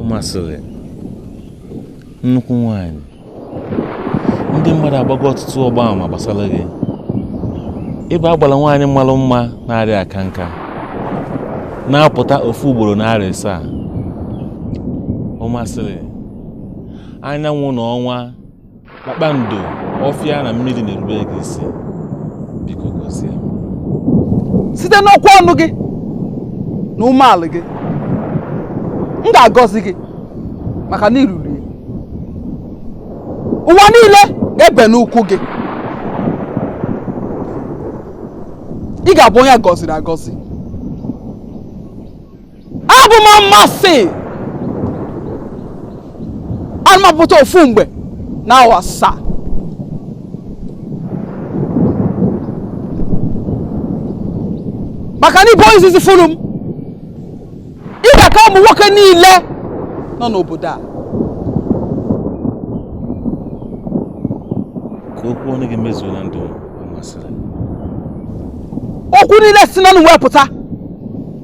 ọmasịrị nnukwu nwanyị ndị mmadụ agbago ọtụtụ ọgba ama gbasara gị ị bụ agbara nwaanyị malụ mma na-arịa aka nka na-apụta ofu ugboro n'arọ asaa ọmasịrị anyanwụ na ọnwa kpakpando ọfịa na mmiri na-erube gị isi biko gọzie site n'okwu ọnụ gị na umeala gị m ga-agọzi gị maka na i ruru ya ụwa niile ga-ebe n'ụkwụ gị ị ga-abụ onye a gọziri agọzi abụ m ọmasị ana m apụta ofu mgbe na arọ asaa maka na ị bụ izizi fụrụ m ị ga-aka ụmụ nwoke niile nọ n'obodo a ka okwu ọnụ gị mezuo na ndụ m ọmasịrị okwu niile si n'ọnụ wee pụta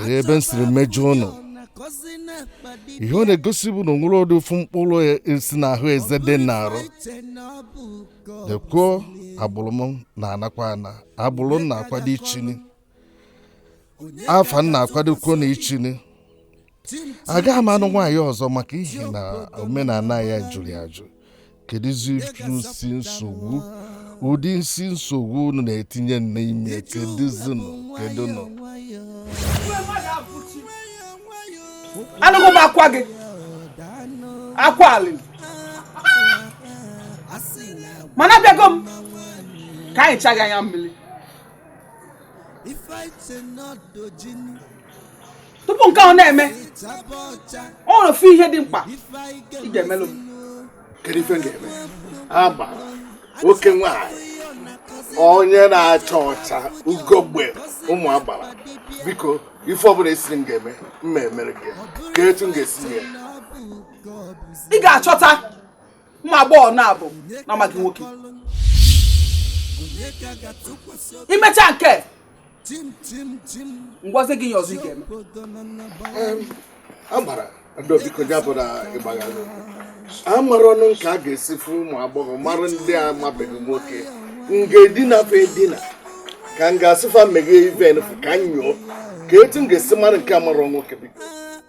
Ee, ebe m siri mejọọ ụnụ ihe ọ na-egosi bụ na o nwere ọdụ ofu mkpụrụ isi n'ahụ eze dị n'arụ dekwuo agbụrụ m na-anakwa ana agbụrụ m na-akwado ichini afa m na-akwadokwo na ichini agaghị m anụ nwaanyị ọzọ maka ihi na omenala anyị jụrụ ya ajụ kedụzi isi nsogbu ụdị isi nsogbu unu na-etinye m n'ime kedụzinụ kedụnụ anụgo m akwa gị akwa alịlị mana abịago m ka m hichaa gị anya mmiri tupu nke ọ na-eme ọ nwere ofu ihe dị mkpa ị ga-emelụ m kedu ife m ga-eme ama oke nwanyị onye na-acha ọcha ugogbe ụmụ agbara biko ife ọbụla ị sịrị m ga-eme m ga-emere gị kee etu m ga-esi ya ị ga-achọta ụmụ agbọghọ naabọ na-amaghị nwoke i mechaa nke a m gwazie gị ihe ọzọ ị ga-eme amara ndị obiko ya bụ na ị gbaghalụ amarọ m nke a ga-esi fụ ụmụ agbọghọ mara ndị amabeghị nwoke m ga-edina fa edina ka m ga-asị fa meghee ive fa ka m nyoo kee etu m ga-esi mara nke amarọ nwoke biko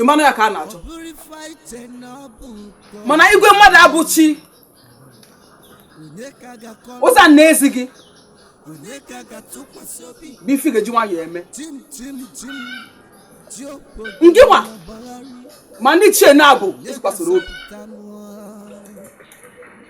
ịmanụ ya ka a na-achọ mana igwe mmadụ abụ chi ụzọ a na-ezi gị bụ ife ị ga-eji nwayọọ eme ngị nwa ma ndị ichie naabọ ị tụkwasịrị obi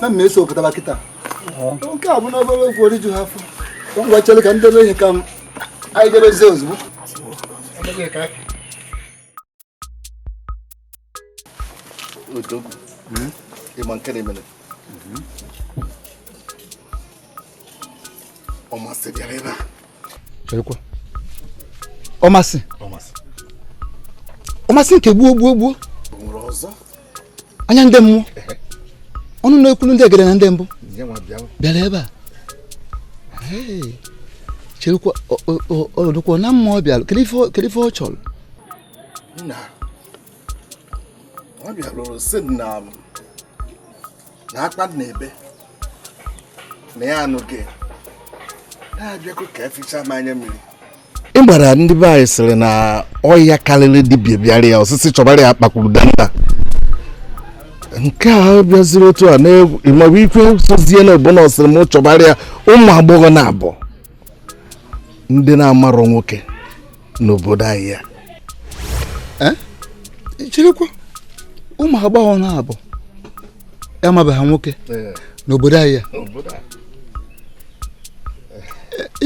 na mmeso pụtara kịta nke a bụ na obere okwu o riju ha afọ ngwa chere ka m debe ihe ka m anyị debezie ozugbo odogwu ịma nke na-emere ọmasị bịara ebe a cherekwa ọmasị ọmasị nke gbuo gbuo gbuo anya ndị mmụọ ọnụ na-ekwulu ndị egede na ndị mbụ bịara ebe a cherekwa ọ dụkwa na mmụọ bịara kedu ife ọ chọrọ ọ bịara sị na na akpa na ebe na ya anụ gị na-abịakwa ka eficha m anya mmiri ị mara ndị be anyị sịrị na ọya karịrị dibịa bịara ya ọ sị sị chọbara ya akpakwuru danda nke a bịaziri otu a na-ịmabụ ife sozie na ọ bụ na ọ sịrị m chọbara ya ụmụ agbọghọ naabọ ndị na-amarọ nwoke n'obodo anyị a eh? cherekwa ụmụ agbọghọ naabọ amabeghị nwoke eh. n'obodo anyị a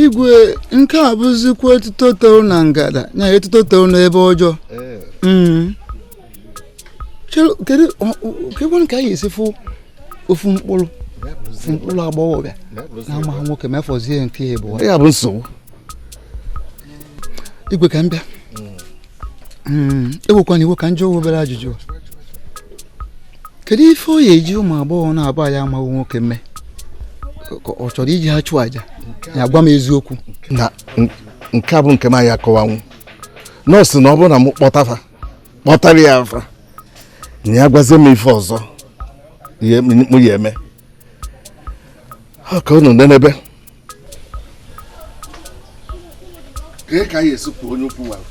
igwe nke a bụzikwa etuto toro na ngada na etuto toro n'ebe ọjọọ eh. hmm. kedu ka anyị esi fụ ofu mkpụrụ ofu mkpụrụ agbọghọbịa na amaghị nwoke ma ya fọzie nke ya bụ ya bụ nsogbu igwe ka m bịa hmm, ewekwana iwe ka m jụọ obere ajụjụ kedu ife ọ ya-eji ụmụ agbọghọ naabọ a amaghị nwoke mee ọ chọrọ iji ha chụọ aja ya gwa m eziokwu na nke a bụ nke m ya-akọwanwu nọọsọ na ọ bụrụ na m kpọta fa kpọtara ya fa na ya gwazie m ife ọzọ m ya-eme ka unu nenebe kee ka anyị esi pụọ onye ukwu nwara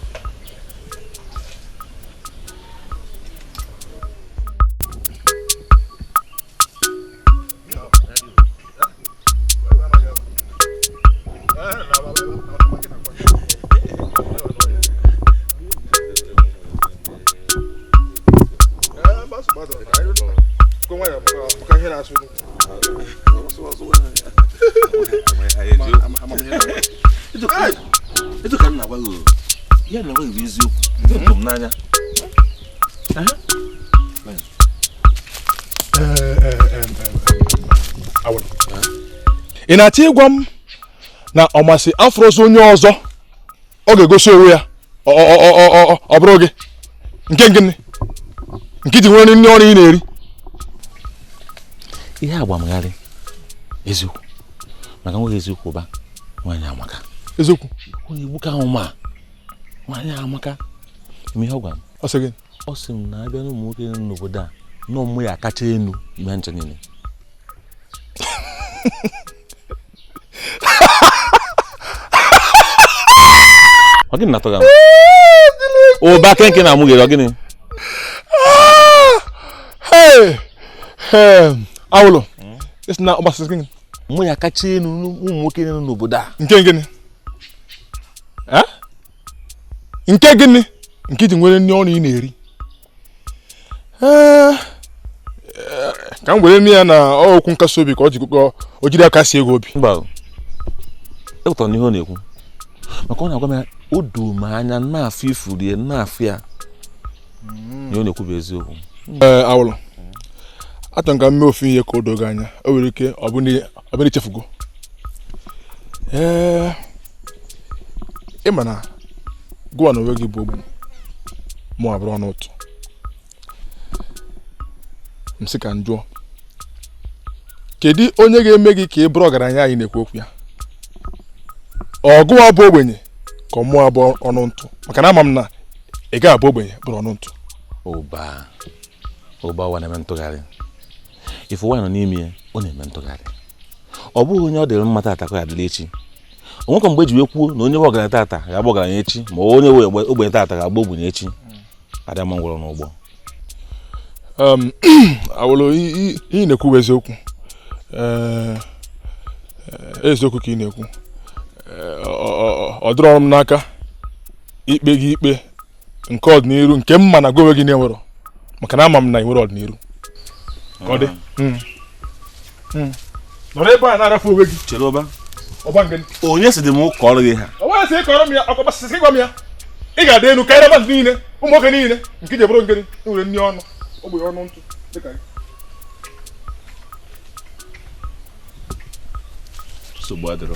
etu ka m na-agwa gị ya na enweghị eziokwu eto m n'anya ị na-achọ ịgwa m na ọmasị afụrọzi onye ọzọ ọ ga-egosi onwe ya ọ bụrụ gị nke gịnị nke i ji nwere nri ọnụ ị na-eri ihe a gba m gharịị eziokwu maka nweghị eziokwu ụba nwaanyị amaka eziokwu onye igbuka ahụ ma nwaanyị amaka ị ma ihe ọ gwara m ọ sị gị ọ sị m na a bịa n'ụmụ nwoke nọ n'obodo a na ọ mụ ya-akacha enu ime ncha niile ọ gịnị na-atọ gị amụ ụba kee nke ị na-amụghere ọ gịnị awụlụ ị sị na ọmasị sị gịnị ọ mụ ya-akacha enu n'ụmụ nwoke nọ n'obodo a nke gịnị nke gịnị nke i ji nwere nri ọnụ ị na-eri ee ka m werenụ ya na ọ okwu nkasi obi ka o ji kụkọ o jiri akasi gị obi mba o. ekwetara m n'ihe ọ na-ekwu maka ọ na-agwa m ya o doo m anya na-afụ ifuru ya na-afụ ya ihe ọ na-ekwu bụ eziokwu ee awụlụ achọrọ m ka m mee ofu ihe ka o doo gị anya o nwere ike ọ bụ na- ọ bụ na i chefugo ee ị ma na gụwa n'onwe gị bụ ogbenye mụwa bụrụ ọnụ ntụ m sị ka m jụọ kedu onye ga-eme gị ka ị bụrụ ọgaranya anyị na-ekwu okwu ya ọ gụwa bụ ogbenye ka ọ mụwa bụ ọnụ ntụ maka na ama m na ị gaghị abụ ogbenye bụrụ ọnụ ntụ ụba ụba ụwa na-eme ntụgharị ife ụwa nọ n'ime ya ọ na-eme ntụgharị ọ bụrọ onye ọ dịrị mma tata ka ọ ya-adịrị echi o nwekwa mgbe e ji wee kwuo na onye bụ ọgaranya tata ga-abụ ọgaranya echi ma onye ogbenye tata ga-abụ ogbenye echi adị ama ngwụrọ n'ụgbọ um, awụlụ ị na-ekwu eziokwu eh, eh, eziokwu ka ị na-ekwu eh, ọ dịrọ m n'aka ikpe gị ikpe nke ọdịniru nke m ma na gụ onwe gị na-enwerọ maka na ama m na ị nwerọ ọdịniru ka ọ dị hmm. hmm. nọrọ ebe a na-arafu onwe gị chere ụba ụba nke onye si dị m ụka ọrụ gị ha onye si ị kọọrọ m ya ọkọ gbasasị gị gwa m ya ị ga-adị elu karịa mmadụ niile ụmụ nwoke niile nke ji ebụrụ ngịrị enwere nri ọnụ ogbenye ọnụ ntụ dịka gị nsogbu adịrọ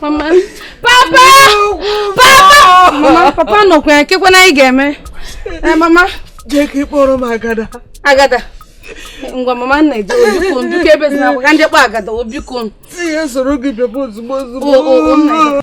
Mama. Papa! Papa! Mama, papa nọkwa ya kekwanụ anyị ga-eme. Eh, mama. Jee ka ị kpọọrọ m Agada. Agada. ngwa mama nna jee o biko biko ebe si na agwa ka ndị kpọọ Agada o biko. Sị ya soro gị bịaba ozugbo ozugbo.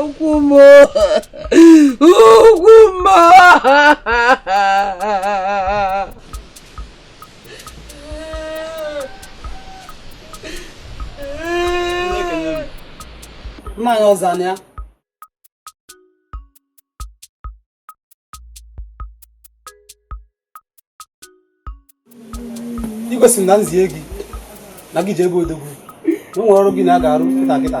ụkwụ m o ụkwụ m o mmanya ọzọ na ya igwe sị na m zie gị na gị jee be Odogwu na e nwere ọrụ gị na ya ga-arụ kịta kịta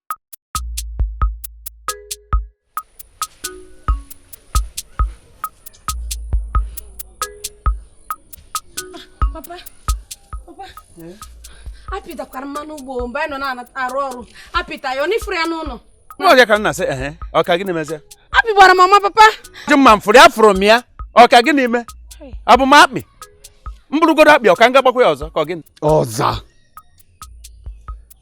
papa papa eh? akpị takwara mama n'ugbo mgbe anyị nọ na-arụ ọrụ akpị ta ya ọ n'ifuru ya n'ụlọ n'ọbịa ka m na-asị ehe ọ ka gịnị mezie akpị gbara mama papa ji mma m fụrụ ya fụrụ m ya ọ ka gịnị mee abụ m akpị m bụrụgodu akpị ọ ka m ga-agbakwa ya ọzọ ka ọ gịnị ọza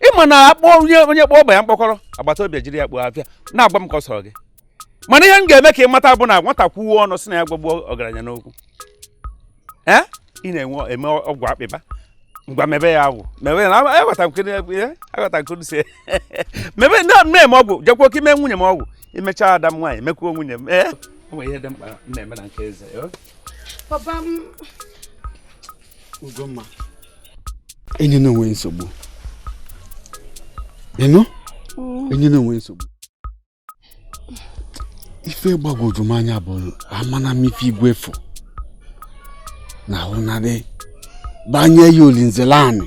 ị ma na akpọ onye onye kpọọ ọba ya mkpọkọrọ agbata obi ya ejiri ya kpoo afịfịa na-agwa m ka ọ sọrọ gị mana ihe m ga-eme ka ị mata bụ na nwata kwuo ọnụ sị na ya gwagbuo ọgaranya n'okwu ee ị na-enwe eme ọgwụ akpị gbaa ngwa mebe ya ọgwụ mebe ya na- aghọta nke na- eh, aghọta nke si mebe na na-eme ọgwụ jekwa ka i mee nwunye m ọgwụ i mecha ada m nwaanyị mekwuo nwunye m ee o nwere ihe dị mkpa m na-eme na nke eze eh? papa m Ugomma enyena onwe nsogbu ị nụ mm. enyena onwe nsogbu ife gbagwoju m anya bụ amana m ife igwe fụ na ahụnarị banye ya olinzelani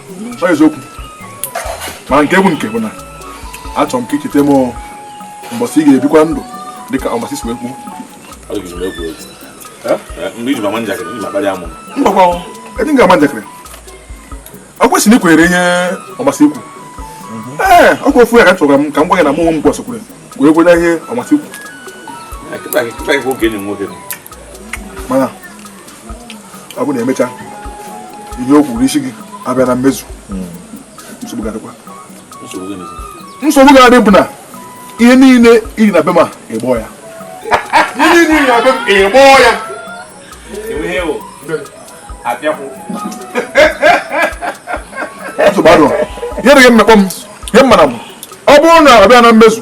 ọ eziokwu mana nke bụ nke bụ na achọrọ m ka i cheta m mbọsị ị ga-ebikwa ndụ dịka Ọmasị si wee kwuo mbakwa ejighị ya ama njakịrị ọ kwesịrị na i kwenyere ihe Ọmasị kwu ee ọ bụ ofu ya ka chọrọ m ka m gwa gị na mụ onwe m kwesịkwara wee kwere ihe Ọmasị kwu mana ọ bụ na emecha ihe o kwuru isi gị abịa na mmezu nsogbu ga-adịkwa nsogbu ga-adị bụ na ihe niile iri na be m ịgbọ ya ihe niile iri na be m ịgbọ ya nsogbu adịrọ ihe dịghị mmekpọ m ihe m mara m ọ bụrụ na ọ bịa na mmezu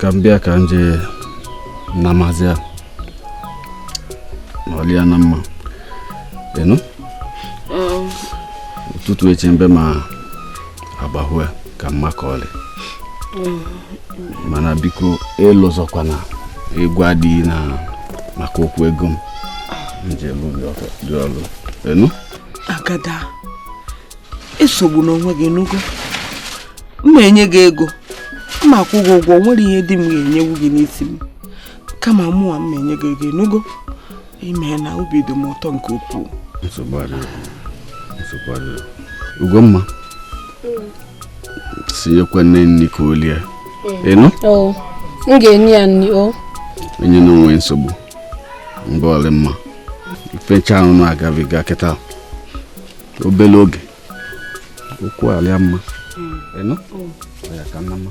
ka m bịa ka m jee na maazị a ma ọlịa na mma ị nụ ụtụtụ echi mbe ma agbahue ka mma ka ọlị mana biko elozọkwana ịgwa di gị maka okwu ego m njem dị ọlụ ị nụ Agada esogbuna onwe gị nụgo m ma-enye gị ego m ma-akwụ gị ụgwọ nwere ihe di m ga-enyewu gị n'isi m kama mụwa m ma-enye gị ego nụgo imena obi dị m ụtọ nke ukwuu Ugomma sị nyekwa nne nri ka o lie ị nụ m ga-enye ya nri o enyena onwe nsogbu mgbe ọ lị mma ife ncha a unu na-agabiga kịta obere oge okwu alịa mma ị nụ ya ka mma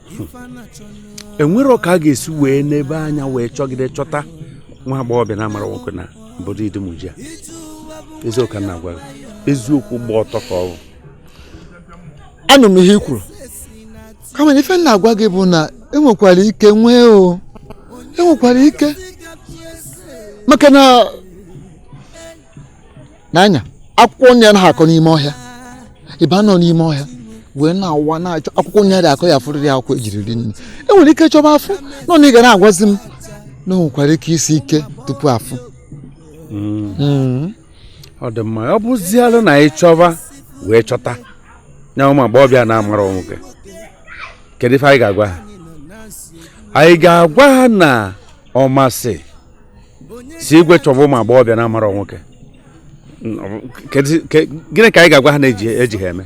enwere ka a ga-esi wee nebe anya wee chọgide chọta nwa agbọghọbịa na-amara nwoke na obodo Idumuji a eziokwu na agwa eziokwu gba ọtọ ka ọ bụ anụ m ihe i kwuru kama na ife m na-agwa gị bụ na enwekwara ike nwee o enwekwara ike maka na na nya akwụkwọ nri anaghị akọ n'ime ọhịa ịba nọ n'ime ọhịa wee na-awa na-achọ akwụkwọ nri adị akọ ya afụrịrị akwụkwọ e ji eri nri enwere ike chọba afụ nọ na ị ga na-agwazi m na o nwekwara ike isi ike tupu afụ hmm. Hmm. ọ dị mma ọ bụzialụ na anyị chọba wee chọta nya ụmụ agbọghọbịa na-amara nwoke kedu ife anyị ga-agwa ha anyị ga-agwa ha na ọmasị si igwe chọba ụmụ agbọghọbịa na amara nwoke gịnị ka anyị ga-agwa ha na-eji eji ha eme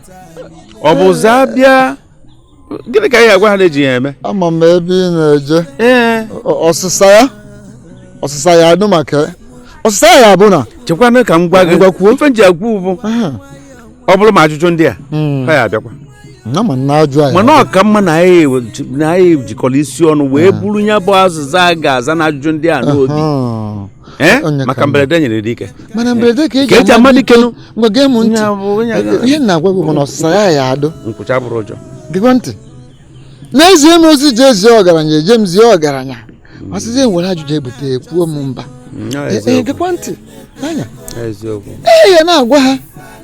ọ bụzị ha bịa gịnị ka anyị ga-agwa ha na-eji ha eme ama m ebe ị na-eje ọsịsa ya ọsịsa ya anụ maka ọsịsa ya bụ na chekwana ka m gwa gị ife nji agwa bụ ọ bụrụ ma ajụjụ ndị a hmm. ha ya abịakwa mana ọ ka mma na anyị jikọrọ isi ọnụ wee ah. buru ya bụ azịza a ga-aza na ajụjụ ndị a n'obi eh? maka mberede nyiri dike mana mberede ka e ji ama dike gekwa m ntị ihe m na-agwa gị bụ na ọsịsa ya ya adụ nkwụcha abụrọ ụjọ gekwa ntị na e zie m ozi je zie ọgaranya eje m zie ọgaranya ma sịzie m were ajụ je bute ekwuo m mba gekwa e, ntị anya ee ya na-agwa ha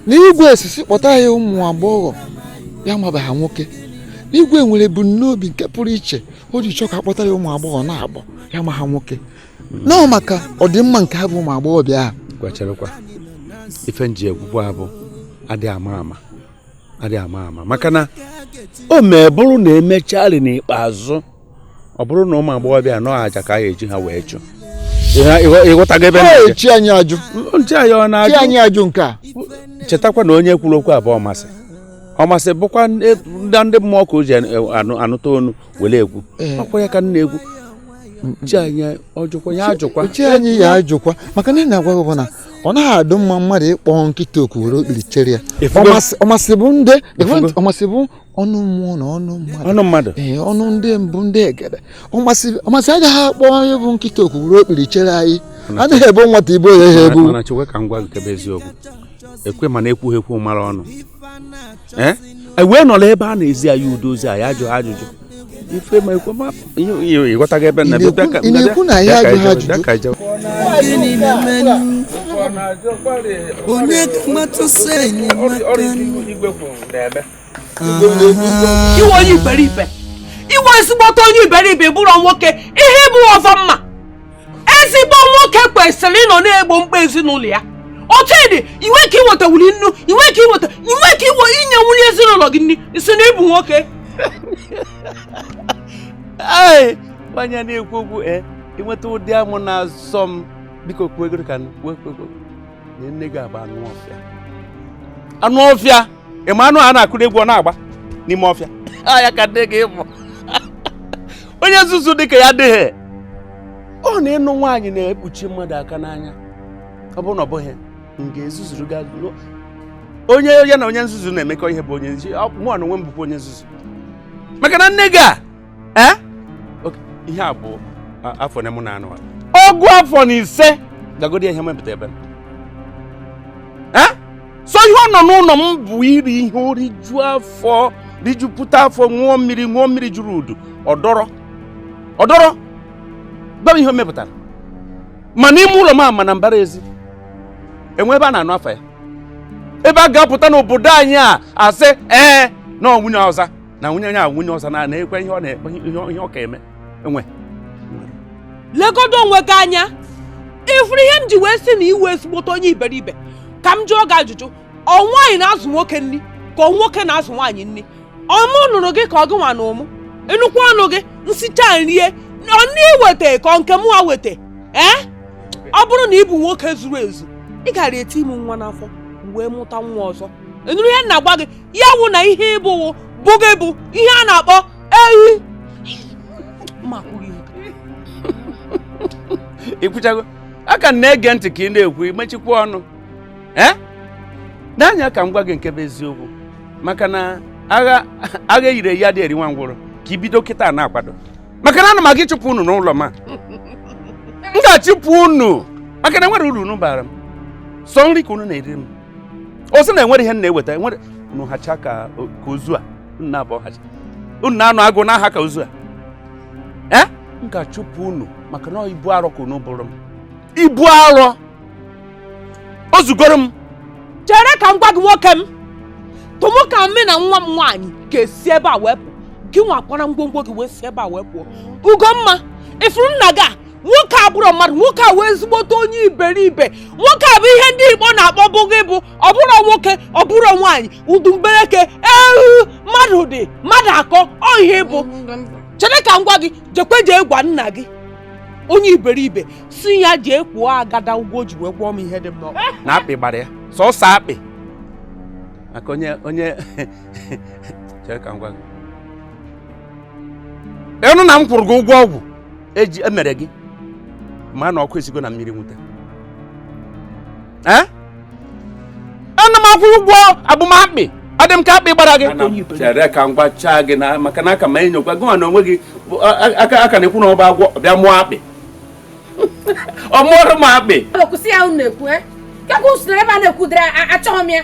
na igwe esisi kpọta ya ụmụ agbọghọbịa amabeghị nwoke igwe nwere ebumnobi nke pụrụ iche o ji chọọ ka a kpọta ya ụmụ agbọghọ na-agbọ ya amaghị nwoke na ọ maka ọdịmma nke ha bụ ụmụ agbọghọbịa ahụ gwacharakwa ife m ji ekwu okwu a bụ adịghị ama ama adị ama ama maka na o mee bụrụ na e mecharị n'ikpeazụ ọ bụrụ na ụmụ agbọghọbịa na ọ aja ka a ga-eji ha wee chụ ị ghọtago ebe m na-eje chi anyị ajụ nche anyị ọ chi na-ajụ anyị ajụ nke a chetakwa na onye kwuru okwu a bụ ọmasị ọmasị bụkwa ndị ndị mmụọ ka o ji anụ- anụta ọnụ were ekwu eh. ọkwa ya ka m na-ekwu chi anyị ajụkwa ya ajụkwa chi anyị ya ajụkwa maka na ihe m na-agwa gị bụ na ọ naghị adụ mma mmadụ ịkpọ nkịta oku were okpiri chere ya ọmasị bụ ndị ọmasị bụ ọnụ mmụọ na ọnụ mmadụ ọnụ mmadụ ee eh, ọnụ ndị mbụ ndị egede ọmasị ọmasị agaghị akpọ onye bụ nkịta oku were okpiri chere anyị anaghị ebo nwata ibu ya ha ebu mana chekwa ka m gwa gị kebe eziokwu ekwe mana ekwughị ekwu mere ọnụ ee e wee nọrọ ebe a na-ezi anyị ụdị ozi anyị ajụ ha ajụjụ ife ma ekwe ma ị ghọtaghị ebe na ị na-ekwu na ya ajụ ha ajụjụ onye ka mmatụ sị enyi ị wụ onye iberibe ị wụ ezigbote onye iberibe bụrụ nwoke ihe bụ ọzọ mma ezigbo nwoke kwesịrị ịnọ na-egbo mkpa ezinụlọ ya otu ị dị i nwe ike iweta wuli nnu i nwe ike iweta i nwe ike inye nwunye ezinụlọ gị nri ị sị na ị bụ nwoke nwanyị na-ekwu okwu e eh, ịnweta ụdị amụ na-asọ m biko kwuo ego ka m na nne gị a bụ anụ ọfịa anụ ọfịa ị ma anụ a na-akụrụ egwu ọ na-agba n'ime ọfịa a ya ka nne gị bụ onye nzuzu dịka ya adịghị ọ na ịnụ nwaanyị na-ekpuchi mmadụ aka n'anya ọ bụrụ na ọ bụghị m ga-ezuzuru gị azụ onye ya na onye nzuzu na-emekọ ihe bụ onye nzuzu mụwa onwe m bụkwa onye nzuzu maka na nne gị a ee ihe a bụ afọ na mụ na anụ ọgụ afọ na ise gagodi ihe mepụta ebe so ihe ọ nọ n'ụlọ m bụ iri ihe o riju afọ rijupụta afọ ṅụọ mmiri ṅụọ mmiri juru udu ọ dọrọ gwa m ihe o mepụtara ma n'ime ụlọ m a ma na mbara ezi enwe ebe a na-anụ afa ya ebe a ga-apụta n'obodo anyị a asị ee na ọ nwunye ọzọ na nwunye onye a nwunye ọzọ na na-ekwe ihe ọ na-ekpe ihe ọ ka eme enwe legodo onwe gị anya ị fụrụ ihe m ji wee sị na ị wụ ezigbote onye iberibe ka m jụọ gị ajụjụ ọ nwaanyị na-azụ nwoke nri ka ọ nwoke na-azụ nwaanyị nri ọ mụ nụrụ gị ka ọ gị nwa nụ mụ nnukwu ọnụ gị m sicha nrie ọ nke i weta ka ọ nke mụwa weta ee ọ bụrụ na ị bụ nwoke zuru ezu ị gara eti m nwa n'afọ wee mụta nwa ọzọ ị nụrụ ihe m na-agwa gị ya wụ na ihe ị bụ wụ bụghị bụ ihe a na-akpọ ehi ma kwughị i kwuchago a ka m na-ege ntị ka ị na-ekwu i mechikwa ọnụ ee nee anya ka m gwa gị nke bụ eziokwu maka na agha agha eyiri eyi adịghị eri nwa ngwụrọ ka i bido kịta na-akwado maka na ana m aga ịchụpụ unu n'ụlọ m a m ga-achụpụ unu maka na enwerọ uru unu bara m sọ nri ka unu na-eri m o sị na enwerọ ihe m na-eweta enwere unu hacha ka ka ozu a unu na-abụ hacha unu na-anwụ agụụ na-aha ka ozu a ee m ga-achụpụ unu maka na ọ ibu arọ ka unu bụrụ m ibu arọ o zugoro m chere ka m gwa gị nwoke m tụmụ ka mụ na nwa m nwaanyị ga-esi ebe a wee pụọ gị nwa kwara ngwongwo gị wee si ebe a wee pụọ ugomma ị fụrụ nna gị a nwoke a abụrọ mmadụ nwoke a wụ ezigbote onye iberibe nwoke a bụ ihe ndị igbo na-akpọ bụghị bụ ọ bụrọ nwoke ọ bụrọ nwaanyị udumbereke ehu mmadụ dị mmadụ akọ ọhịa ị bụ chere ka m gwa gị jekwe jee gwa nna gị onye iberibe sị ya jee kwụọ agada ụgwọ o ji wee gwọọ m ihe dị mma na akpị gbara ya sọsọ akpị maka onye onye chere ka m gwa gị ị nụ na m kwụrụ gị ụgwọ ọgwụ e ji emere gị ma na ọkụ esigo na mmiri nwute Eh? ana m akwụ ụgwọ abụ m akpị adị m ka akpị gbara gị Ana m chere ka m gwachaa gị na maka na a ka m enyokwa gị nwa na onwe gị bụ a- a- aka aka na-ekwu na ọ bụ agwọ ọ bịa mụọ akpị ọ mụọrọ m akpị Ọ kwụsị ya unu na-ekwu eh? Kekwa usoro ebe a na-ekwudere a- achọghị m ya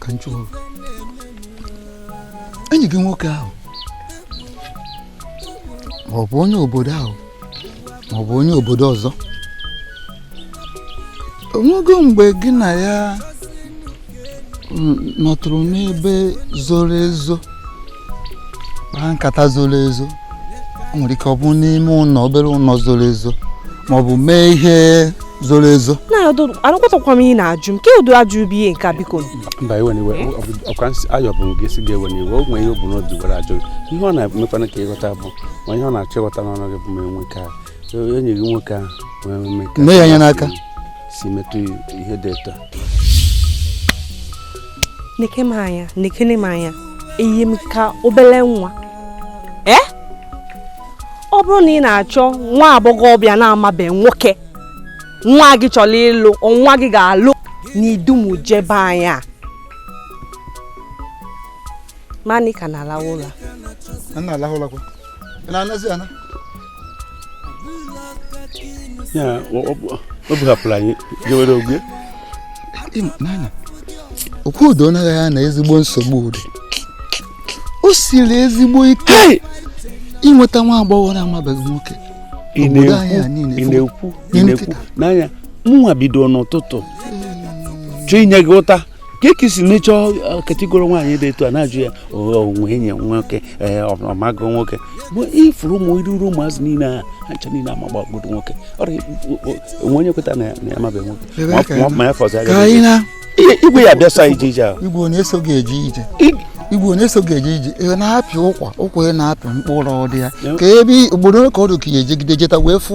ka m jụọ enyi gị nwoke ahụ ma ọ bụ onye obodo ahụ ma ọ bụ onye obodo ọzọ o nwego mgbe gị na ya nọtụrụ n'ebe zoro ezo kpaa nkata zoro ezo o nwere ike ọ bụ n'ime ụlọ obere ụlọ zoro ezo ma ọ bụ mee ihe zoro ezo anakwatakwa m ihe na-ajụ m ke ụdị ajụjụ bụ ihe nke biko mba ewena iwe ọkwa ayọ bụ gị si gị ewena iwe o nwere ihe o bu n'obi gwara ajụ ihe ọ na-emekwana ka ị ghọta bụ ma ihe ọ na-achọ ịghọta n'ọnụ gị bụ ma e nwee ka enyi gị nwoke ahụ wee mee ka ya anya n'aka si metụ ihe dị etu neke m anya nekene m anya eyi m ka obele nwa ee eh? ọ bụrụ na ị na-achọ nwa agbọghọbịa na-amabe nwoke nwa gị chọrọ ịlụ nwa gị ga-alụ n'idumuje be anyị a mani ka na-alawa ụlọ na-alawa ụlọ kwa na-anazi ana ya ọ bụ hapụrụ anyị jewere ogwe okwu udo na-agwa ya na ezigbo nsogbu dị o siri ezigbo ike ịnweta nwa agbọghọ na-amabeghị nwoke ị na-ekwu n'anya mụnwa bido n'ụtụtụ chọọ inye gị ụta ka eke si mechọọ uh, katigoro nwaanyị dị etu a na-ajụ ya o nwee enyi nwoke ee eh, ọ mago nwoke bụ ị fụrụ ụmụ iruru ụmụazị niile a ha cha niile amagbagodo nwoke ọrịa o nwe onye kweta na ya amabe nwoke ma ya fọzi aga igwe ya bịa sa ije ije ahụ igwe onye eso ga-eje ije igwe onye so ga-eje ije ị na-apị ụkwa ụkwa ị na-apị mkpụrụ ọ dị ya ka ebe obodo ka ọ dị ka anyị jegide jeta wee fụ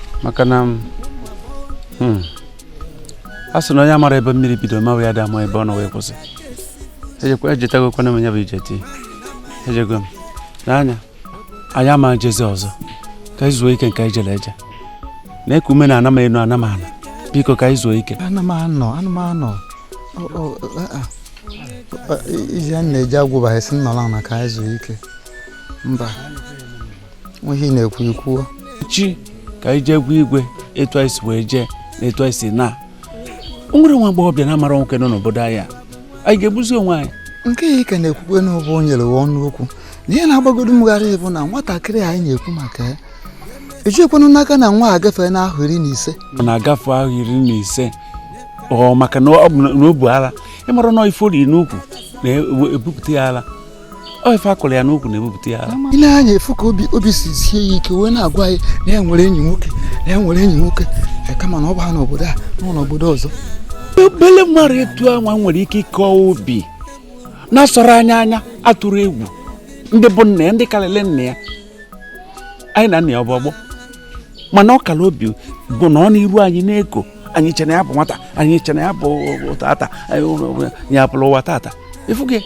maka na hmm, a sị na onye amara ebe mmiri bido mawa ya adị ama ebe ọ nọ wee kwụsị ejetagokwana m ya bụ ije tii ejego m n'anya anyị ama ejezi ọzọ ka anyị zuo ike nke anyị jere eje na-eku ume na ana m enu ana m ana biko ka anyị zuo ike ana m anọ ana m anọ iji a na-eji agwụba esi nọrọ ana ka anyị zuo ike mba ihe na-ekwu ikwuo chi ka anyị jee gwa igwe etu anyị si wee jee na etu anyị si na o nwere nwa agbọghọbịa na-amara nwoke nọ n'obodo anyị a anyị ga-egbuzi onwe anyị nke ya ka na-ekwukwe n'ọ bụ o nyere wa ọnụ okwu na ihe na-agbagodo m gharị bụ na nwatakịrị anyị na-ekwu maka ya ejiekwanụ n'aka na nwa agafeena ahọ iri na ise ọ na-agafe ahọ iri na ise ọ maka na ọ bụ na o bu ala ị mara na ife oriri n'ukwu na-ebupụta ya ala ọ ife a kụrụ ya n'ukwu na-ebupụta ya ara ị lee anya fụ ka obi obi si sie ya ike wee na-agwa anyị na ya nwere enyi nwoke na ya nwere enyi nwoke ya kama na ọ bụha n'obodo a ọ nọ n'obodo ọzọ obele mmadụ etu a nwa nwere ike ịka obi na-asọrọ anyị anya atụrọ egwu ndị bụ nna ya ndị karịrị nna ya anyị na nna ya bụ ọgbọ mana ọ kara obi nọ n'iru anyị na-eko anyị che na ya bụ nwata anyị che na ya bụ tata ya bụrụ nwa tata ịfụ gị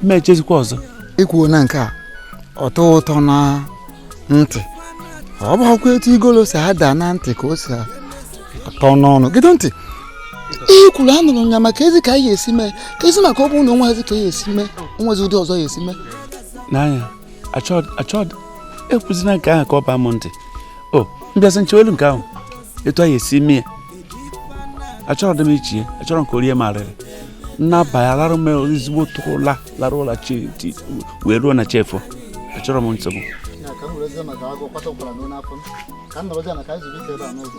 ma echezikwa ọzọ i kwuo na nke a ọ tọ ụtọ na ntị ọ bụrọkwa etu igolo si ada na ntị ka o si atọ n'ọnụ gee ntị ihe kwuru anụrụ ya maka ezi ka anyị esi mee ka ezi maka ọ bụrụ na o nwezi ka a ya-esi mee o nwezi ụdị ọzọ a ya-esi mee n'anya achọ- achọ- ekwuzina nke ahụ ka ọ baa m ntị ọ m bịasịa m chee olu nke ahụ etu anyị esi mee ya achọrọdị m iche ya achọrọ m ka o rie m arịrị m naba alarụ m ezigbo tụrụ ụla larụ ụla chi ti- wee ruo na chi efo achọrọ m nsogbu Ya, ka m werezie maka agụ kwata ụkwara n'ụlọ afọ m. ka m nọrọzie na ka anyị zuru ike ebe a n'ụzọ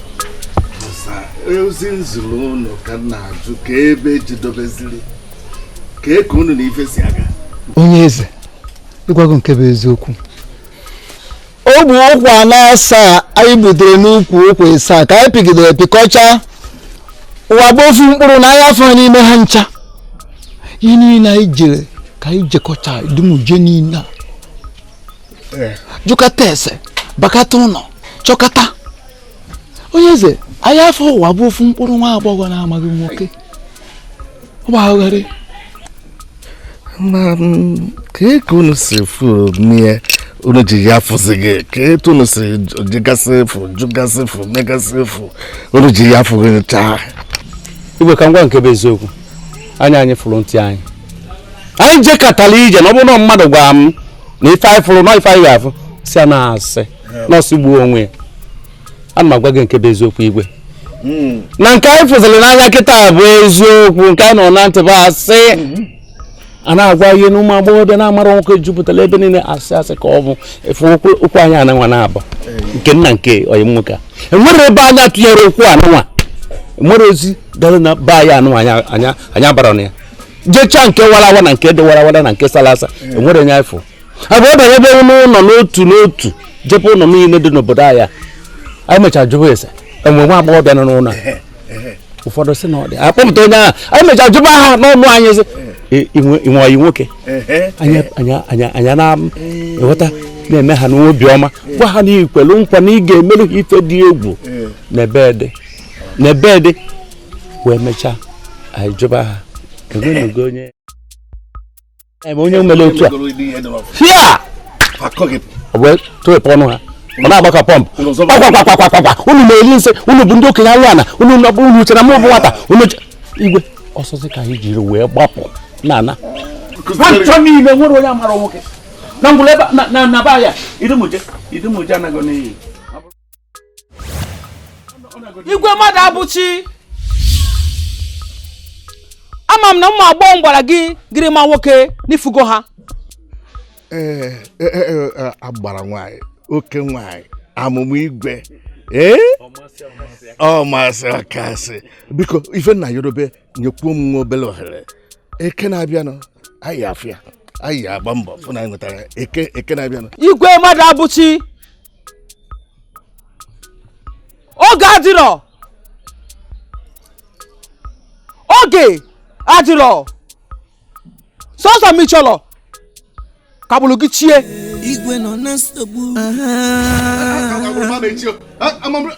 ozi m ziri unu ka m na-ajụ ka ebe e jedebeziri ka eke unu na ife si aga onye eze ịgwa gị nke bụ eziokwu ọ bụ ụkwụ na asaa anyị gbutere n'ukwu ụkwụ ịsaa ka anyị pịgidere pịkọcha nwa bụ ofu mkpụrụ na anyị afụrọ n'ime ha ncha ihe niile anyị jere ka anyị jekọcha dum ije niile a jụkata ese bakata ụlọ chọkata onye eze anyị afụrọ nwa bụ ofu mkpụrụ nwa agbọghọ na-amaghị nwoke ọ gbagharịrị m kee ka unu si fụ n'ihe unu ji ya fụzi gị ka etu unu si jegasị efu jụgasị efu megasị efu unu ji ya fụ gị chaa igwe ka m gwa gị nke bụ eziokwu anya anyị fụrụ ntị anyị anyị jekatara ije na ọ bụrụ na mmadụ gwara m na ife anyị fụrụ na ife anyị ga-afụ si a na-asị na ọ sịgbuo onwe ya ana m agwa gị nke bụ eziokwu igwe hmm. na nke anyị fụziri n'anya kịta bụ eziokwu nke anyị nụ na ntị bụ asị a na-agwa ihe na ụmụ agbọghọbịa na-amarọ nwoke jupụtara ebe niile asị asị ka ọ bụ ofu okwu anyị anụnwa na-aba nke nna nke onye nwoke a e nwere ebe anyị atụnyere okwu anụnwa e nwere ozi gara na be anyị anụnwa anya bara na ya jechaa nke warawa na nke dị warawara na nke sara asa enwere onye afọ abụ ọ banye ebe n'ụlọ n'otu n'otu jebe ụlọ niile dị n'obodo a anyị mechara jụwa ese e nwee nwa agbọghọbịa n'ụlọ ụfọdụ si na ọ dị akpọpụta onye ahụ anyị mechara jụba ha n'ọnụ anyị sị i nwe ọyị nwoke anyị ana-enweta na-eme ha n'obi ọma gwa ha na i kwelu nkwa na ị ga-emere ha ife dị egwu na ebe dị na ebe dị wee mechaa anyị jụba ha enwenugo onye eme onye mere otu a hia ọ wee tụrụpụ ọnụ ha ọ na-agba ka pọmpụ kpakpakpakpakpakpa unu na-eri nsị unu bụ ndị okenye anụ ana unu unu chere mụ bụ nwata unu igwe ọsọsọ ka anyị jiri wee gbapụ na ana nchọ niile enwerọ onye amarọ nwoke na ngwụla ebe na na ba ya idumuje idumuje anaghị n'iyi igwe mmadụabụchi ama m na ụmụ agbọghọ m gwara gị gịrị ma nwoke na ị fụgo ha ee e, e, e, agbara nwanyị oke nwanyị amụmụ igwe ee ọmasị ọkasị biko ife m na-ayọ bụ nyekwuo m nwa obere ohere eke na-abịanụ anyị afịa anyị agba mbọ fụ na anyị nwetara eke eke na-abịanụ igwe mmadụabụchi oge adịrọ oge adịrọ sọsọ m chọrọ ka ọ bụrụ gị chie igwe nọ na nsogbu Amam-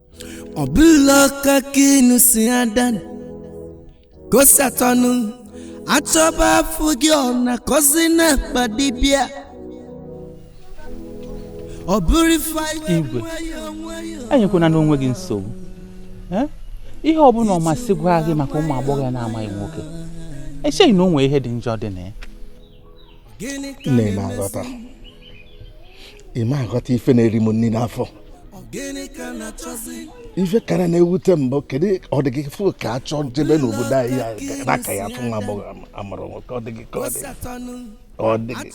ọ bụla ọka ka unu si ada kosatọnụ a chọba afụghị ọ na-akọzi n'akpa dibịa ọ bụrụ ife anyị Igwe. nwayọọ nwayọọ. enyekwana onwe gị nsogbu Eh? ihe ọbụla ọmasị gwa gị maka ụmụ agbọghọ ya na-amaghị nwoke echeghị na o nwee ihe dị njọ dị na ya nne ị ma aghọta ị ma aghọta ife na-eri m nri n'afọ ife kara na-ewute m bụ kedu ọ dị gị fụ ka a chọọ jebe n'obodo anyị ya n'aka ya fụ nwa agbọghọ amarọ nwoke ọ dị gị ka ọ dị ọ dị gị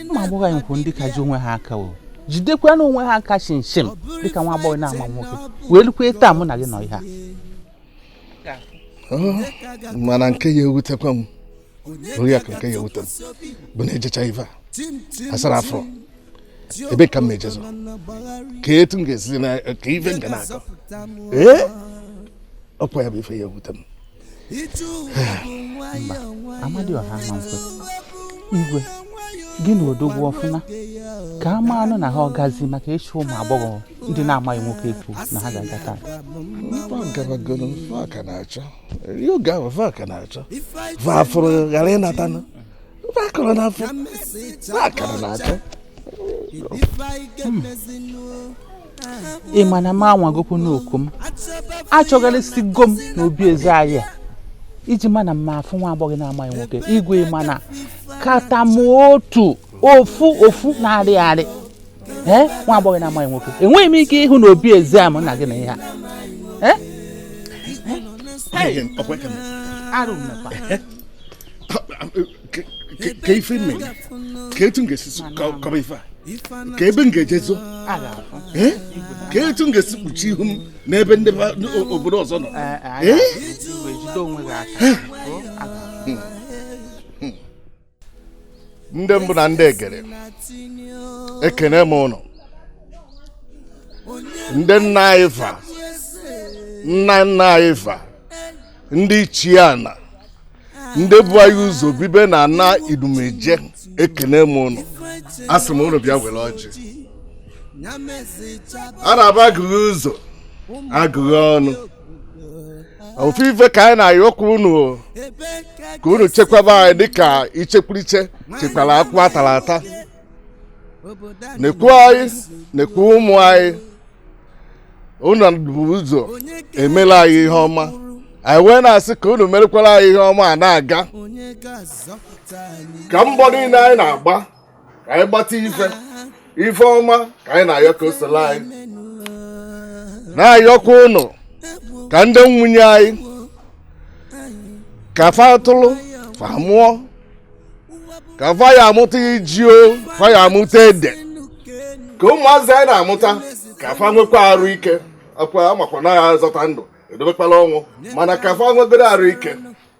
ụmụ agbọghọ anyị kwụ ndị ka ji onwe ha aka o jidekwa na onwe ha aka shimshim dịka nwa agbọghọ na-ama nwoke wee lukwa taa mụ na gị nọ ihe a mana nke ya ewutekwa m oriakụ nke ya ewute m bụ na ejecha ife a asara afọ ebe ka m na-ejezi ka etu m ga-esi na ka ife m ga na-akọ ee ọkwa ya bụ ife ya ewute m amadioha nwanze igwe gị na odogwu ọfụma ka a ma anụ na ha ọgazi maka ịchọ ụmụ agbọghọ ndị na-amaghị nwoke ekwu na ha ga-aga taa va fụrụ ghara ịnatanụ va kọrọ na afọ va kara na-achọ ị ma na m anwagokwanụ oko m achọgharịsigo m n'obi eze anyị a ị ji ma na m ma afụ nwa agbọghọ na-amaghị nwoke igwe ị ma na kata m otu ofu ofu na-arị arị ee nwa agbọghọ na-amaghị nwoke enweghị m ike ịhụ na obi ezi a m na gị na ihe a Ee? arụ mmekwa ka ife mme gị ka etu m ga-esi so- kọ- kọba ife a ka ebe m ga-eje zo a ga-afụ Eh? ka etu m ga-esi kpuchi ihu m n'ebe ndị ba- n- o- obodo ọzọ nọ Ee, a Eh? ga-afụ. Igwe, jide onwe gị aka. O, a ga-afụ. ndị mbụ na ndị egede ekene m ụnụ ndị nna anyị fa nna nna anyị fa ndị ichie ana ndị bu anyị ụzọ bibe na ana idumeje ekene m ụnụ a sị m ụnụ bịa were ọjị a na-aba agụghị ụzọ agụghị ọnụ ofu ife ka anyị na-ayọkwa unu ka unu chekwaba anyị dịka ichekwuriche chekwara akwụ atara ata nekwu anyị nekwu ụmụ anyị unu bu ụzọ emere anyị ihe ọma anyị wee na-asị ka unu merekwara anyị ihe ọma a na-aga ka mbọ niile anyị na-agba ka anyị gbata ife ife ọma ka anyị na-ayọ ka o soro anyị na-ayọkwa ụnụ ka ndị nwunye anyị ka fa tụrụ fa mụọ ka fa ya amụta iji o fa ya amụta ede ka ụmụazị anyị na-amụta ka fa nwekwa arụ ike akwa amakwa na ya azọta ndụ edobekwala ọnwụ mana ka fa nwegodu arụ ike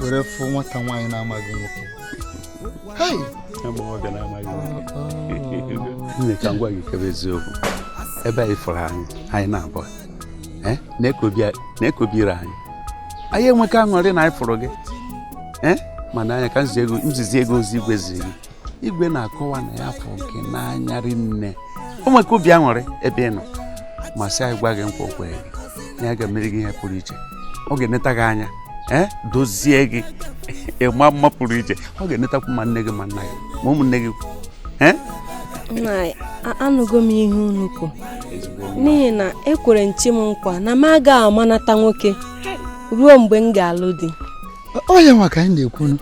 were fụ nwata nwaanyị na-amaghị nwoke nne ka m gwa gị nke bụ eziokwu ebe ị fụrụ anyị anyị naabọ eh, na-ekobiri anyị anyị enweka aṅụrị na anyị fụrụ gị eh, mana anya ka m zizie gị ozi igwe ziri gị igwe na-akọwa na ya afụka gị n'anya rinne o nweka obi aṅụrị ebe ị nọ ma sị anyị gwa gị nkwa o kwere gị na ya ga-emere gị ihe pụrụ iche ọ ga-eneta gị anya ee eh, dozie gị ị maa mma pụrụ iche ọ ga-enetakwu ma nne gị ma nna gị ma ụmụnne gị ee eh? anụgo m ihe unu kwuru n'ihi na ekwere m chi m nkwa na m aga amanata nwoke ruo mgbe m ga-alụ di ọ ihe nwa ka anyị na-ekwunu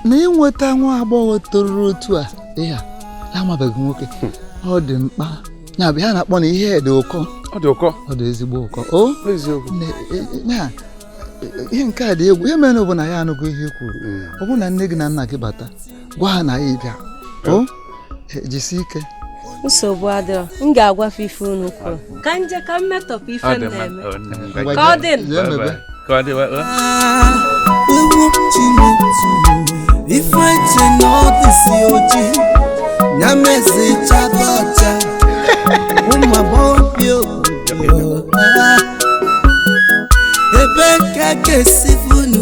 na ịnweta nwa agbọghọ toruru otu a ị ha amabeghị nwoke hmm. ọ dị mkpa na bụ ya na-akpọ na ihe dị ụkọ ọ dị ụkọ ọ dị ezigbo ụkọ o e, e, ihe nke a dị egwu ihe mere bụ na anyị anụgo ihe i kwuru hmm. ọ bụrụ na nne gị na nna gị bata gwa ha na anyị bịa o e, jisi ike nsogbu adịrọ m ga-agwa fa ife unu kwuru ka m je ka m metọpụ ife m na-eme ka ọ dị ka ọ dị ife che na ọ dịsi oji ya mezi chata ọcha ụmụ agbọghọ bi obodo ebe ka ga-esi funu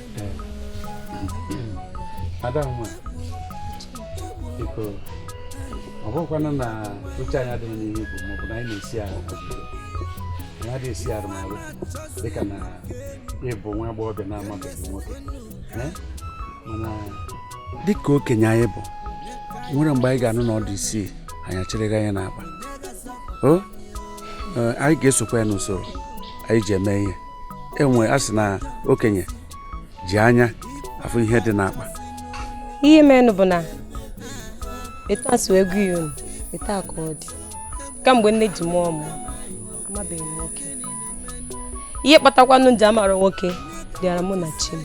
ada nwa biko ọ bụkwanụ na uche anyị adịghị n'ihe bụ maọbụ na anyị na-esi arụ anyị adịghị esi arụ n'alụ dịka na ị bụ nwa agbọghọbịa na-amabeghị nwoke mana dịka okenye anyị bụ nwere mgbe anyị ga-anụ na ọ dị isii anyị achịrịghị anya n'akpa anyị ga-esokwa ya n'usoro anyị ji eme ihe enwe a sị na okenye ji anya afụ ihe dị n'akpa ihe menụ bụ na etu a m si wee gwa ya unu etu a ka ọ dị kamgbe nne ji mụọ mụ amabeghị m nwoke ihe kpatakwanụ m ji amara nwoke dịara mụ na chi m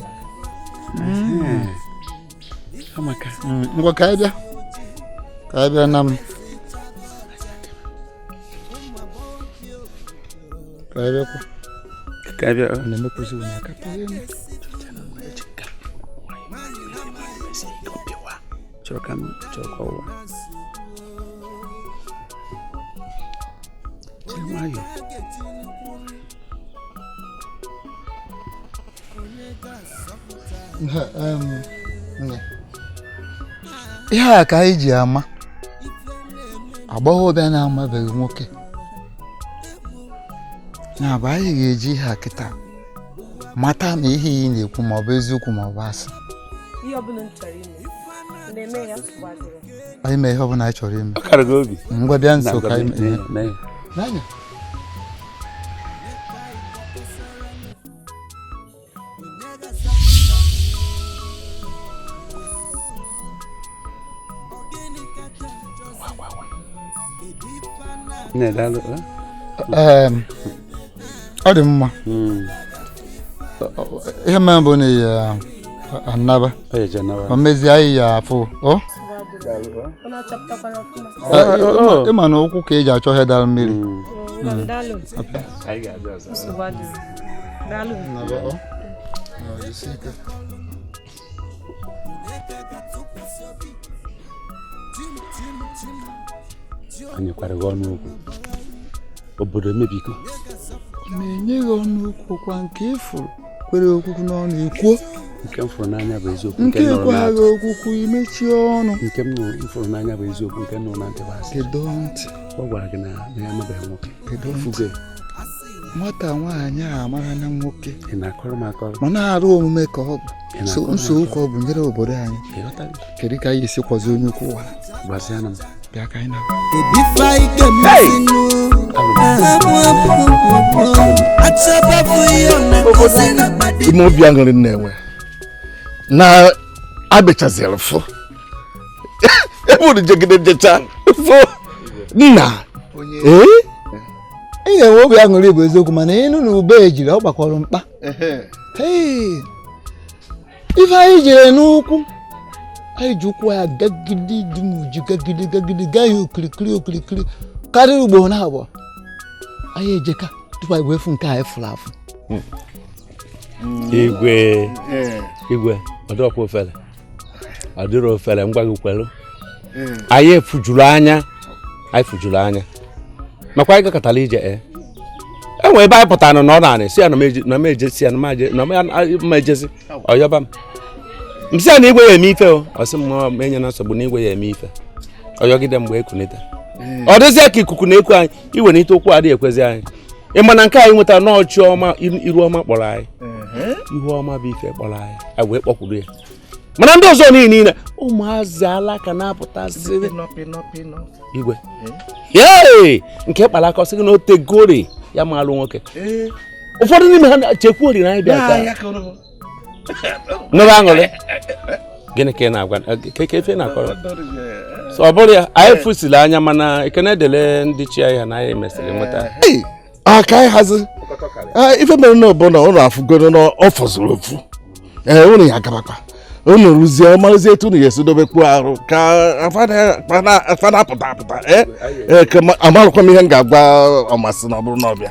mm, ngwa ka anyị bịa ka anyị bịa na m ka anyị bịakwa ka anyị bịa na-emekwuzi onye aka chọrọ ka m chọrọ ka ọwa jiri nwayọọ ihe a ka anyị ji ama agbọghọbịa na-amabeghị nwoke na bụ anyị ga-eji ihe a kịta mata ma ihe ị na-ekwu ma ọ bụ eziokwu ma ọ bụ asị anyị mee ihe ọ bụla anyị chọrọ ime ngwa bịa nso ka anyị mee ọ dị mma hmm. ihe mere bụ na anyị anaba ma mezie anyị ya-afụ ị ma na ụkwụ ka e ji achọ ihe dara mmiri hmm. Hmm. daalụ anyị kwara gị ọnụ okwu obodo emebigo na-enye gị ọnụ okwu ọ kwa nke ị fụrụ kwere okwukwu n'ọnụ i kwuo nke ekweghị okwukwu i mechie ọnụ nke m fụrụ n'anya bụ eziokwu nke nọ na ntị bụ asị kedu ntị ọ gwara gị na ya amabeghị nwoke kedu ntị nwata nwaanyị a mara na nwoke ma na-arụ omume ka ọ bụ nsogbu ka ọ bụ nyere obodo anyị kedu ka anyị esi kwazi onye ukwu ụwa bịa ka anyị na obi aṅụrị na-enwe na abịachaziri fụ ebe unu jegide jecha fụ nna ee ị ga-enwe obi aṅụrị bụ eziokwu mana ị nụ na ube ejiri ọ gbakọrọ mkpa ife anyị jere n'ụkwụ anyị ji ụkwụ ya gagide dị n'uju gagide gagide gaa ya okirikiri okirikiri karịa ugboro naabọ anyị ejeka tupu anyị wee fụ nke anyị fụrụ afụ hmm. igwe igwe ọ dịrọkwa ofele ọ dịrọ ofele m gwa gị kwelu hmm. anyị fụjuru anya anyị fụjuru anya makwa anyị gakatara ije e enwe ebe anyị pụtara na ọ na-anị si ya na m ejezi ya na m ejezi ọ yọba m m sị ya na igwe ya-eme ife o ọ sị m enyena nsogbu na igwe ya-eme ife ọ yọgide mgbe ekunite hmm. ọ dịzie ka ikuku na-eku anyị iwenite ụkwụ adịghị ekwezi anyị ị ma na nke anyị nwetara na chi ọma iru ọma kpọrọ anyị ihu ọma bụ ife kpọrọ anyị anyị wee kpọkwuru ya mana ndị ọzọ niile niile ụmụazị ala ka na-apụtasị igwe ee nke kpara aka ọ sị gị na o tegori ya maalụ nwoke ụfọdụ n'ime ha chekwuori na anyị bịa taa nụrụ aṅụrị gịnị ka ị na-agwa ka efe na-akọrọ ọ bụrụ ya anyị fụsiri anya mana ekene dịlị ndị chi ya na anyị mesịrị nweta aka anyị hazi ife mere na ọbụla ụlọ afụgoro na ọ fọzuru ofu ee ụlọ ya gabakwa unu rụzie ọmarụzi etu unu ga-esi dobekwu arụ ka afa na-apụta apụta eh? eh, amarụkwa m ihe m ga-agwa ọmasị na ọ bụrụ na ọ bịa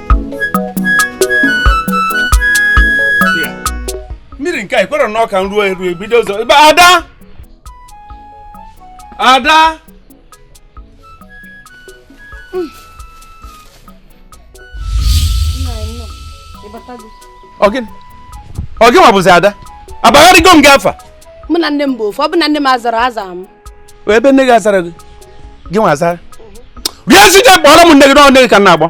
mmiri nke a i kwuru na ọ ka nruo eru ebido ụzọ ebe ada ada ọ gịnị ọ gịnwa bụzi ada abagharịgo m gị afa mụ na nne m bụ ofu ọ bụ na nne m azarọ aza m ebe nne gị azara gị gị nwa azara bịa si gị kpọrọ m nne gị n'ọnụ nne gị ka m na-akpọ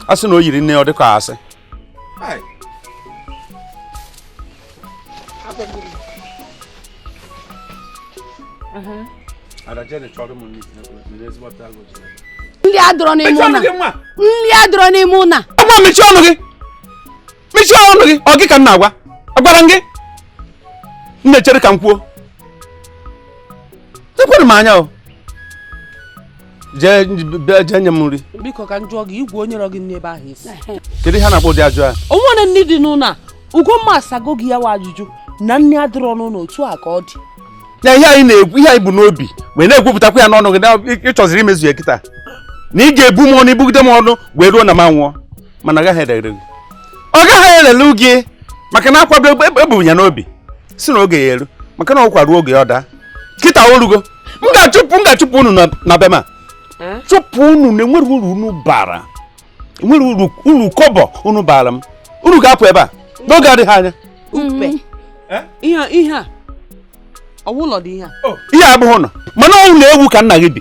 a sị na o yiri nne ọ dịka asị nri adịrọ n'ime ụnọ nri adịrọ n'ime ụnọ ọgwa mechie ọnụ gị mechie ọnụ gị ọ gị ka m na-agwa agwara m gị m na-echere ka m kwuo ekwere m anya o jee bịa jee nye m nri biko ka m jụọ gị igwe onye rọ gị n'ebe ahụ isi kedu ihe a na-akpọ ụdị ajụjụ a o nwere nri dị n'ụlọ a ugomma asago gị ya wa ajụjụ na nri adịrọ n'ụlọ otu a ka ọ dị na ihe anyị na-ekwu ihe anyị bu n'obi wee na-ekwupụtakwa ya n'ọnụ gị na ịchọziri imezu ya kịta na ị ga-ebu m ọnụ ibugide m ọnụ wee ruo na m anwụọ mana ọ gaghị erere gị ọ gaghị erere gị maka na akwado ebu ya n'obi si na oge ya eru maka na ụkwa ruo oge ọ daa kịta orugo m ga-achụpụ m ga-achụpụ unu na be ma eh? chụpụ unu na enwerọ uru unu bara enwerọ uru uru kọbọ unu bara m unu ga-apụ ebe a n'oge adịghị anya mm-hmm. eh? ihe a ọ wụ ụlọ dị ihe a oh. ihe abụghị ụlọ mana ụlọ ewu ka nna gị bi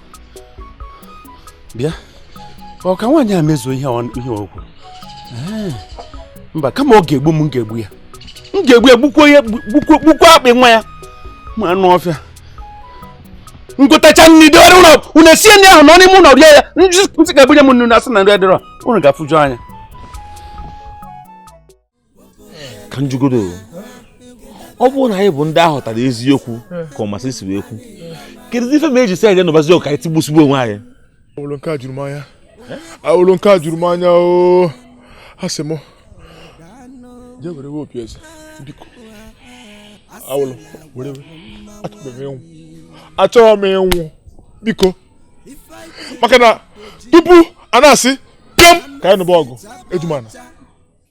bịa ọ ka nwaanyị a mezuo ihe o kwuru mba kama ọ ga-egbu m m ga-egbu ya m ga-egbu ya gbukwo ya gbukwo akpị nwa ya ma anụ ọfịa m gotacha nri dewere ụlọ unu esie nri ahụ nọ n'ime ụlọ rie ya ntị ga-ebunye m ọnụ na asị na nri adịrọ unu ga-afụju anya ka m jụgodu ọ bụrụ na anyị bụ ndị ahụtara eziokwu ka ọmasị si wee kwu kedu ife mere e ji sị anyị nụbazi ọgụ ka anyị tigbusigbu onwe anyị awụlụ nke a juru m anya awụlụ nke a juru m anya o a sị m jee were we opi eze biko awụlụ were we achọrọ m ịnwụ achọrọ m ịnwụ biko maka na tupu a na-asị pịọm ka anyị nụba ọgụ ejumana